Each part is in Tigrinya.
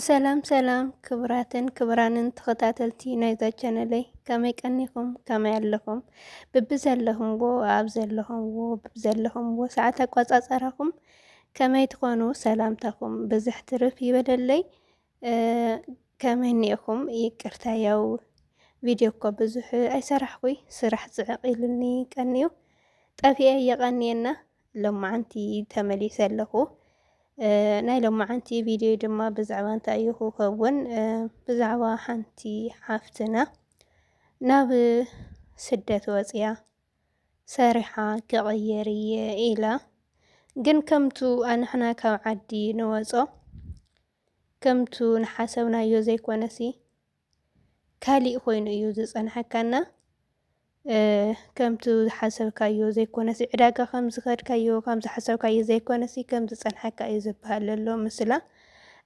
ሰላም ሰላም ክብራትን ክብራንን ተኸታተልቲ ናይዛ ቻነለይ ከመይ ቀኒኹም ከመይ ኣለኹም ብብዘለኹምዎ ኣብ ዘለኹምዎ ብብዘለኹምዎ ሰዓት ኣቋፃፀራኹም ከመይ ትኾኑ ሰላምታኹም ብዝሕ ትርፍ ይበለለይ ከመይ ኒኢኹም ይቅርታ ያው ቪድዮ እኮ ብዙሕ ኣይሰራሕኩይ ስራሕ ፅዕቕ ኢሉኒ ቀኒዩ ጠፊኤ የቐኒየና ሎማዓንቲ ተመሊሰ ኣለኹ። ናይ ሎማዓንቲ ቪድዮ ድማ ብዛዕባ እንታይ እዩ ክኸውን? ብዛዕባ ሓንቲ ሓፍትና ናብ ስደት ወፅያ ሰሪሓ ክቕየር እየ ኢላ ግን ከምቱ ኣንሕና ካብ ዓዲ ንወፆ ከምቱ ንሓሰብናዮ ዘይኮነሲ ካሊእ ኮይኑ እዩ ዝፀንሐካና ከምቲ ዝሓሰብካዮ ዘይኮነሲ ዕዳጋ ከም ዝኸድካዮ ከም ዝሓሰብካዮ ዘይኮነሲ ከም ዝፀንሐካ እዩ ዝበሃል ዘሎ ምስላ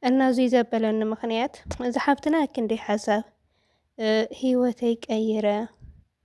እና እዙይ ዘበለኒ ምኽንያት እዚ ሓፍትና ክንደይ ሓሳብ ህይወተይ ቀይረ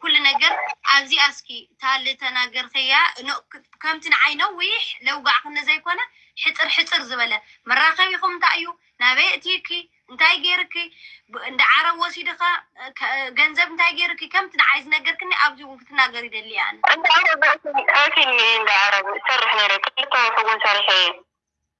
ኩሉ ነገር ኣብዚኣ እስኪ እታ ዝተናገርክያ ከምቲ ንዓይ ነዊሕ ለውጋዕ ክኒ ዘይኮነ ሕፅር ሕፅር ዝበለ መራኸቢኹም እንታይ እዩ ናበይ እትይኪ እንታይ ገይርኪ እንዳ ዓረብ ወሲድኻ ገንዘብ እንታይ ገይርኪ ከምቲ ንዓይ ዝነገርክኒ ኣብዚ እውን ክትናገር ይደሊ እያ ኣነ ኣብ ፊልሚ እንዳ ዓረብ እሰርሕ ነይረ ክልተ ወርሒ እውን ሰሪሐ እየ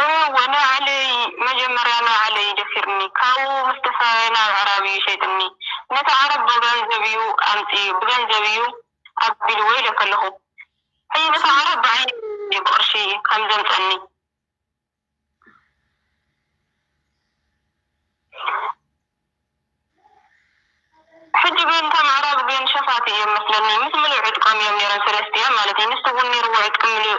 እወ ንባዕለይ መጀመርያ ንባዕለይ ደፊርኒ ካብኡ ምስ ተፈራረየ ናብ ኣዕራብ እዩ ሸይጥኒ ነቲ ዓረብ ብገንዘብ እዩ ኣምጺኡ ብገንዘብ እዩ ኣቢልዎ ኢለኪ ኣለኩ ሕጂ ነቲ ዓረብ ብዓይኒ እዩ ብቅርሺ ከም ዘምጸኒ ሕጂ ግን እቶም ኣዕራብ ግን ሸፋቱ እዮም መስለኒ ምስ ምሉእ ዕጥቆም እዮም ነይሮም ሰለስቲኦም ማለት እዩ ንሱ ውን ነይርዎ ዕጥቂ ምሉእ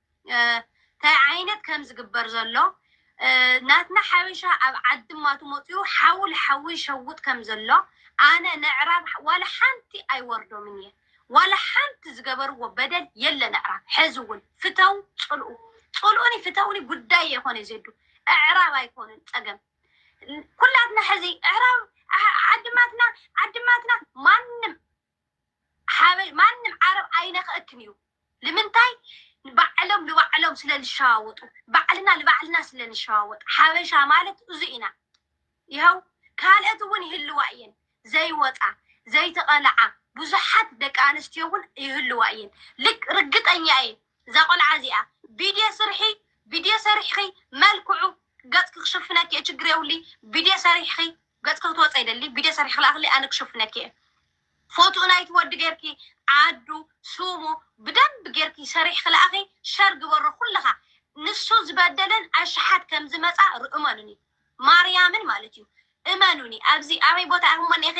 ታይ ዓይነት ከም ዝግበር ዘሎ ናትና ሓበሻ ኣብ ዓዲ እማ ትመፅኡ ሓዊ ልሓዊ ይሸውጥ ከም ዘሎ ኣነ ነዕራብ ዋላ ሓንቲ ኣይወርዶምን እየ ዋላ ሓንቲ ዝገበርዎ በደል የለን ኣዕራብ ሐዚ እውን ፍተው ፅልኡ ፅልኡኒ ፍተውኒ ጉዳይ የኮነ ዜዱ ኣዕራብ ኣይኮኑን ፀገም ኩላትና ሐዚ ኣዕራብ ዓድማትና ዓድማትና ማንም ሓበሽ ማንም ዓረብ ኣይነክእክን እዩ ልምንታይ ባዕሎም ልባዕሎም ስለ ልሸዋወጡ ባዕልና ልባዕልና ስለ ንሸዋወጥ ሓበሻ ማለት እዙ ኢና ይሀው ካልኦት እውን ይህልዋ እየን ዘይወፃ ዘይተቐልዓ ብዙሓት ደቂ ኣንስትዮ እውን ይህልዋ እየን ልክ ርግጠኛ እየ እዛ ቆልዓ እዚኣ ቪድዮ ስርሒ ቪድዮ ሰሪሕኺ መልክዑ ገፅኪ ክሽፍነኪ እየ ችግር የብሉይ ቪድዮ ሰሪሕኺ ገጽኪ ክትወጸ ይደሊ ቪድዮ ሰሪሒ ክልኣክለይ ኣነ ክሽፍነኪ እየ ፎቱኡ ናይቲ ወዲ ገርኪ ዓዱ ሱሙ ብደንብ ገርኪ ሰሪሕኪ ልኣኺ ሸር ግበሮ ኩልኻ ንሱ ዝበደለን ኣሽሓት ከምዝመጻ ር እመኑኒ ማርያምን ማለት እዩ እመኑኒ ኣብዚ ኣበይ ቦታ ኢኹም እሞ እኒኢኺ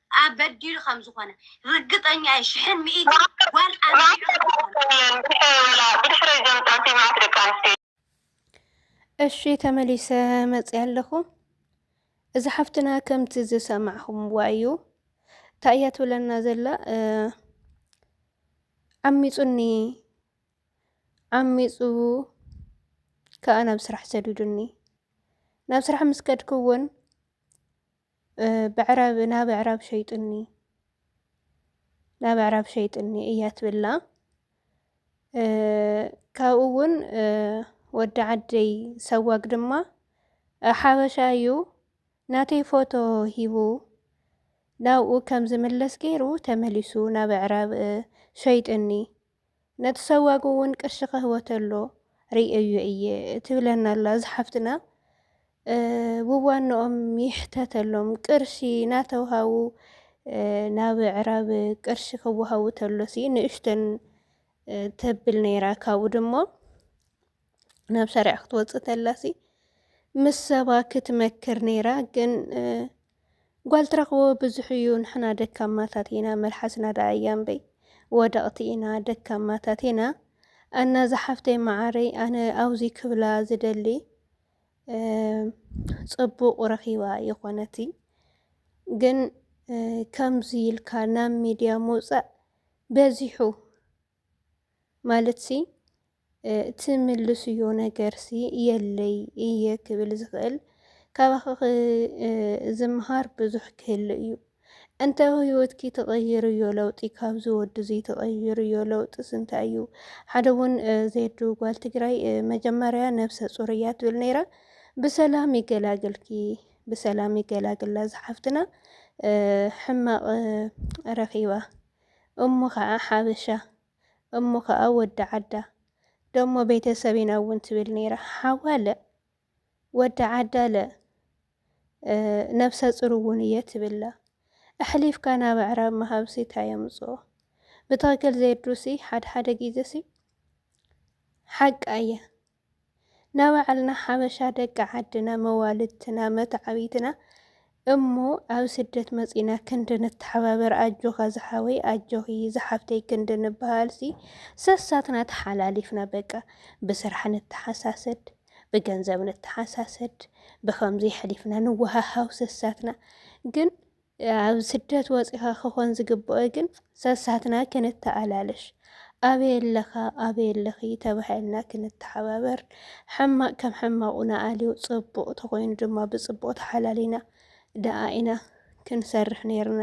ኣብ በዲሉ ከም ዝኾነ ርግጠኛ እየ ሽሕን ሚኢትን ጓል ኣንቢዑ ከም ዝኾነ። እሺ ተመሊሰ መጽያ ኣለኹ እዚ ሓፍትና ከምቲ ዝሰማዕኹምዋ እዩ እንታይ እያ ትብለና ዘላ ዓሚፁኒ ዓሚፁ ከዓ ናብ ስራሕ ሰዱዱኒ ናብ ስራሕ ምስ ከድኩ እውን ብዕራብ ናብ ኣዕራብ ሸይጡኒ ናብ ኣዕራብ ሸይጡኒ እያ ትብላ ካብኡ እውን ወዲ ዓደይ ሰዋግ ድማ ሓበሻ እዩ ናተይ ፎቶ ሂቡ ናብኡ ከም ዝምለስ ገይሩ ተመሊሱ ናብ ኣዕራብ ሸይጡኒ ነቲ ሰዋግ ውን ቅርሺ ከህወተሎ ሪኤዮ እየ ትብለና ኣላ እዛ ሓፍትና ብዋንኦም ይሕተተሎም ቅርሺ ናተውሃቡ ናብ ኣዕራብ ቅርሺ ክወሃቡ ተሎሲ ንእሽተን ተብል ነይራ ካብኡ ድሞ ናብ ሸሪዓ ክትወፅእ ተላሲ ምስ ሰባ ክትመክር ነይራ ግን ጓል ትረኽቦ ብዙሕ እዩ። ንሕና ደካማታት ኢና፣ መልሓስና ደኣ እያምበይ ወደቕቲ ኢና፣ ደካማታት ኢና እና ዝሓፍተይ መዓረይ ኣነ ኣብዚ ክብላ ዝደሊ ፅቡቕ ረኺባ የኾነቲ ግን ከምዚ ኢልካ ናብ ሚድያ ምውፃእ በዚሑ ማለትሲ እቲ ምልስዮ ነገርሲ የለይ እየ ክብል ዝኽእል ካባኺ ዝምሃር ብዙሕ ክህሉ እዩ እንተ ህይወትኪ ተቐይርዮ ለውጢ ካብዚ ወዲ እዚ ተቐይርዮ ለውጢስ እንታይ እዩ? ሓደ እውን ዜዱ ጓል ትግራይ መጀመርያ ነብሰ ፁር እያ ትብል ነይራ። ብሰላም ይገላግልኪ፣ ብሰላም ይገላግላ ዝሓፍትና ሕማቕ ረኺባ እሞ ከኣ ሓበሻ እሞ ከኣ ወዲ ዓዳ ደሞ ቤተሰብ ኢና እውን ትብል ነይራ ሓዋ ለእ ወዲ ዓዳ ለእ ነብሰ ጽር እውን እየ ትብላ ኣሕሊፍካ ናብ ኣዕራብ ምሃብሲ እንታይ የምጽኦ ብትኽክል ዜዱሲ ሓድሓደ ጊዜሲ ሓቃ እየ ናባዕልና ሓበሻ ደቂ ዓድና መዋልድትና መታዓቢትና እሞ ኣብ ስደት መጺና ክንዲ ንተሓባበር ኣጆኻ ዝሓወይ ኣጆኺ ዝሓፍተይ ክንዲ ንበሃልሲ ሰሳትና ተሓላሊፍና በቃ ብስራሕ ንተሓሳሰድ ብገንዘብ ንተሓሳሰድ ብከምዚ ሕሊፍና ንወሃሃው ሰሳትና ግን ኣብ ስደት ወፂኻ ክኾን ዝግብኦ ግን ሰሳትና ክንተኣላለሽ ኣበይ ኣለኻ ኣበይ ኣለኺ ተባሂልና ክንተሓባበር ሕማቕ ከም ሕማቑ ንኣልዮ ፅቡቕ ተኾይኑ ድማ ብፅቡቕ ተሓላሊና ደኣ ኢና ክንሰርሕ ነይርና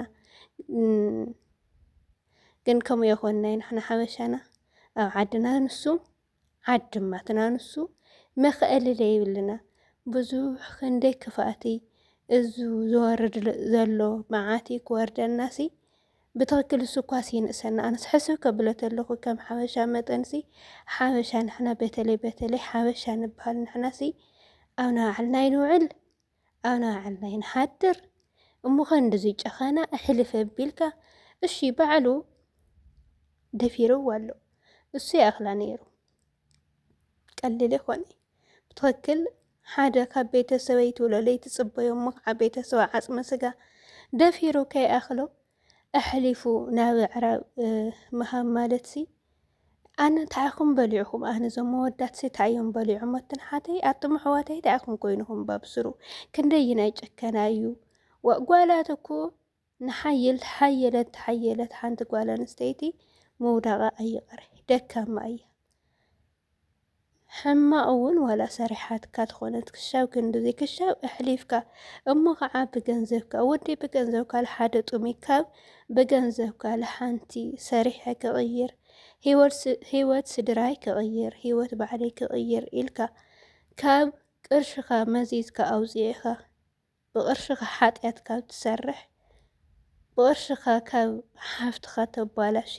ግን ከምኡ የኾንናይ ንሕና ሓበሻና ኣብ ዓድና ንሱ ዓድማትና ንሱ መክእሊ ለይብልና ብዙሕ ክንደይ ክፍኣቲ እዙ ዝወርድ ዘሎ መዓቲ ክወርደናሲ ብትክክል እሱኳስ ይንእሰና ኣነስ ሕስብ ከብሎ ተለኹ ከም ሓበሻ መጠንሲ ሓበሻ ንሕና በተለይ በተለይ ሓበሻ ንበሃል ንሕናሲ ኣብ ናባዕልና ይንውዕል ኣና ዓናይ ንሓድር እሞ ከንድዚ ጨኸና ኣሕልፍ ኣቢልካ እሺ ባዕሉ ደፊርዋ ኣሎ እሱ ይኣኽላ ነይሩ ቀሊል ይኾነ ብትክክል ሓደ ካብ ቤተሰበይቱ ለለይ ትጽበዮ እሞ ከዓ ቤተሰባ ዓጽመ ስጋ ደፊሩ ከይኣኽሎ ኣሕሊፉ ናብ ኣዕራብ ምሃብ ማለትሲ ኣነ እንታይ ኢኹም በሊዕኹም? ኣነ እዞም መወዳት እንታይ እዮም በሊዖም? ኣትንሓተይ ኣቱም ኣሕዋተይ እንታይ ኢኹም ኮይንኹም? ባብስሩ ክንደይናይ ጨከና እዩ ጓላት እኮ ንሓይል ሓየለት ተሓየለት ሓንቲ ጓል ኣንስተይቲ ምውዳቓ ኣይቕረ ደካማ እያ። ሕማቕ እውን ዋላ ሰሪሓትካ ትኾነት ክሻብ ክንድዚ ክሻብ ኣሕሊፍካ እሞ ከዓ ብገንዘብካ ወዲ ብገንዘብካ ልሓደ ጡሚ ካብ ብገንዘብካ ልሓንቲ ሰሪሐ ክቕይር ህይወት ስድራይ ክቕይር ህይወት ባዕለይ ክቕይር ኢልካ ካብ ቅርሽኻ መዚዝካ ኣውፂእኻ ብቅርሽኻ ሓጥያት ካብ ትሰርሕ ብቅርሽኻ ካብ ሓፍትኻ ተባላሺ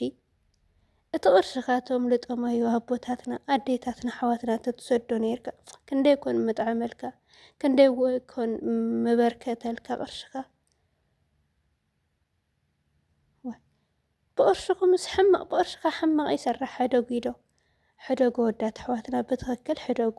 እቲ ቅርሽኻ ቶም ልጠማዮ ኣቦታትና ኣዴታትና ኣሕዋትና ተትሰዶ ነርካ ክንደይ ኮን ምጥዓመልካ ክንደይ ኮን ምበርከተልካ ቅርሽኻ ብቅርሽኹምስ ሕማቅ ብቅርሽኻ ሕማቅ ይሰራሕ ሕደጉ ኢዶ ሕደጉ ወዳት ኣሕዋትና ብትክክል ሕደጉ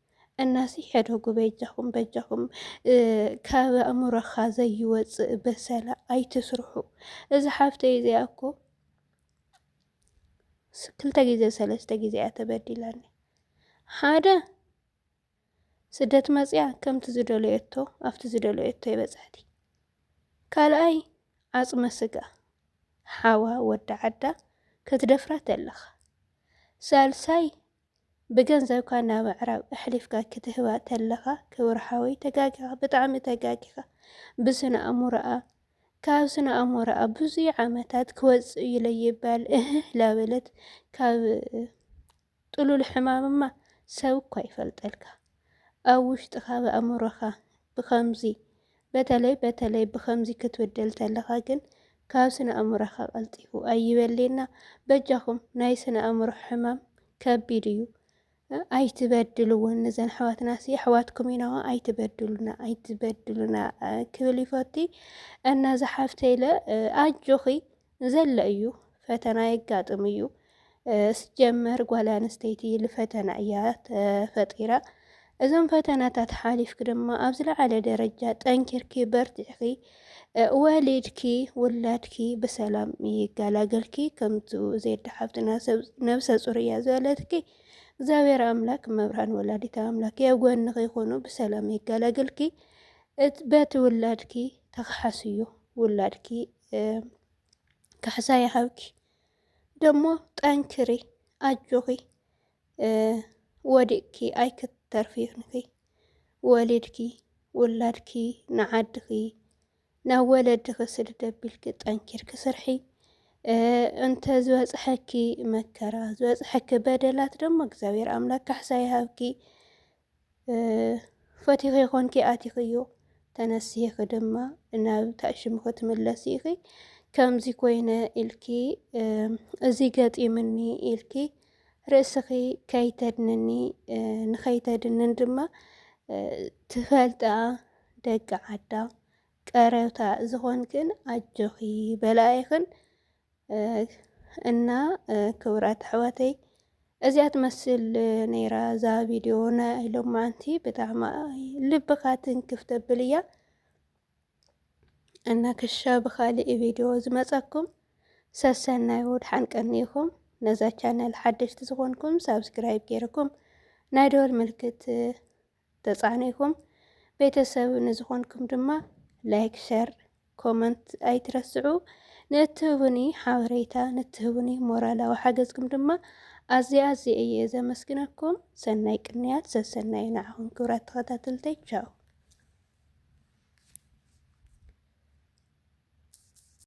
እናሲ ሕደጉ በጃኹም በጃኹም ካብ ኣእምሮኻ ዘይወፅእ በሰላ ኣይትስርሑ። እዚ ሓፍተይ እዚኣ እኮ ክልተ ግዜ ሰለስተ ግዜ እያ ተበዲላኒ። ሓደ ስደት መፅያ ከምቲ ዝደለየቶ ኣብቲ ዝደለየቶ ይበፅሕቲ። ካልኣይ ዓፅመ ስጋ ሓዋ ወዲ ዓዳ ክትደፍራ ተለኻ። ሳልሳይ ብገንዘብካ ናብ ኣዕራብ ኣሕሊፍካ ክትህባ ተለኻ ክብር ሓወይ ተጋጊኻ ብጣዕሚ ተጋጊኻ ብስነ ኣእምሮኣ ካብ ስነ ኣእምሮኣ ብዙይ ዓመታት ክወፅእ እዩ ለይባል እህህ ላበለት ካብ ጥሉል ሕማምማ ሰብ እኳ ይፈልጠልካ ኣብ ውሽጥኻ ብኣእምሮኻ ብኸምዚ በተለይ በተለይ ብኸምዚ ክትብድል ተለኻ ግን ካብ ስነ ኣእምሮኻ ቀልጢፉ ኣይበልየና በጃኹም ናይ ስነ ኣእምሮ ሕማም ከቢድ እዩ ኣይትበድልወን ነዘን ኣሕዋትና ሲ ኣሕዋትኩም ኢናዋ ኣይትበድሉና ኣይትበድሉና ክብል ይፈቲ እና ዝሓፍተይለ ኣጆኺ ንዘሎ እዩ ፈተና የጋጥም እዩ ስጀመር ጓል ኣንስተይቲ ልፈተና እያ ተፈጢራ እዞም ፈተናታት ሓሊፍኪ ድማ ኣብ ዝለዓለ ደረጃ ጠንኪርኪ በርቲዕኺ ወሊድኪ ውላድኪ ብሰላም ይገላገልኪ ከምቱ ዜዳ ሓፍትና ነብሰ ፁር እያ ዝበለትኪ እግዚኣብሔር ኣምላክ መብርሃን ወላዲታ ኣምላክ ኣብ ጎንኺ ይኹኑ ብሰላም ይገላገልኪ በቲ ውላድኪ ተክሓስዩ ውላድኪ ካሕሳይ ሓውኪ ደሞ ጠንክሪ ኣጆኺ ወዲቅኪ ኣይክተርፊ ይኹንኪ ወሊድኪ ውላድኪ ንዓድኺ ናብ ወለድኺ ስድድ ኣቢልኪ ጠንኪርኪ ስርሒ እንተ ዝበፅሐኪ መከራ ዝበፅሐኪ በደላት ደሞ እግዚኣብሔር ኣምላክ ካሕሳ ይሃብኪ ፈቲኺ ኾንኪ ኣቲኽዮ ተነሲሂኺ ድማ ናብ ታሽሙ ክትምለሲ ኢኺ ከምዚ ኮይነ ኢልኪ እዚ ገጢምኒ ኢልኪ ርእስኺ ከይተድንኒ ንኸይተድንን ድማ ትፈልጣ ደቂ ዓዳ ቀረብታ ዝኾንክን ኣጆኺ በላኢኽን እና ክብራት ኣሕዋተይ እዚኣ ትመስል ነይራ እዛ ቪድዮ ናይ ሎማዓንቲ ብጣዕሚ ልብኻ ትንክፍ ተብል እያ እና ክሻ ብካሊእ ቪድዮ ዝመፀኩም ሰሰናይ ወድሓን ቀኒኹም ነዛ ቻነል ሓደሽቲ ዝኾንኩም ሳብስክራይብ ገይርኩም ናይ ደወል ምልክት ተጻኒኩም ቤተሰብ ንዝኮንኩም ድማ ላይክ ሸር ኮመንት ኣይትረስዑ ንእትህቡኒ ሓበሬታ ንትህቡኒ ሞራላዊ ሓገዝኩም ድማ ኣዝየ ኣዝየ እየ ዘመስግነኩም ሰናይ ቅንያት ሰሰናዩ ንዓኹም ክብራት ተኸታተልተይ ቻው